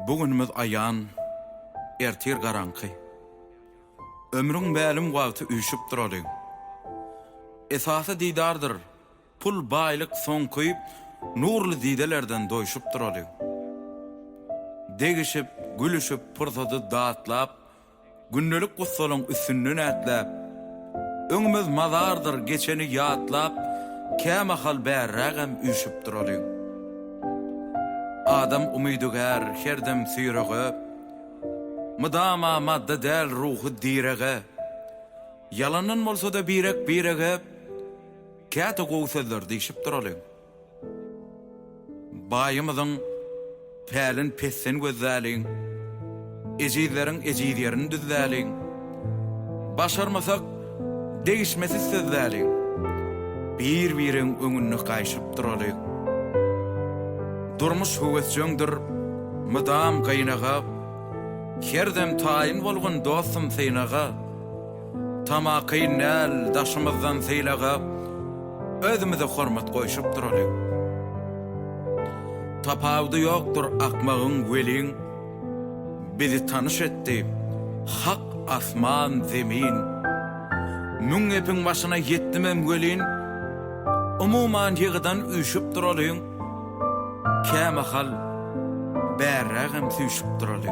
Bu günümiz aýan, ertir garaňky. Ömrüň mälim wagty üýşüp duraly. Esasy didardyr, pul, baýlyk soňky, nurly didelerden doýşup duraly. Degişip, gülüşip, pursady datlap, Gündelik gussalyň üstünden ätläp, Öňümiz mazardyr geçeni ýatlap, Kämahal bärrägem üýşüp duralyň. Adam umydygär, her dem süýrege, Mydama madda däl ruhy direge, Ýalandan bolsa-da birek-birege, Käte gowy sözler diýşip duralyň. Baýymyzyň pälin pessin gözläliň, Ejizleriň ejiz ýerini düzläliň. Başarmasak, degişmesiz sözläliň, Bir-biriň öňünde gaýşyp duralyň. Durmuş höwesjeňdir, mydam gynaga, Her dem taýyn bolgun dostum synaga. Tama kyn däl, daşymyzdan sylagap, özümize hormat goýşup duraly. Tapawudy ýokdur akmagyň welin, bizi tanyş etdi Hak asman, zemin. Müň gepiň başyna ýetdimem welin, umuman ýygydan üýşüp duraly. Kämahal bärrägem süýşüp duraly.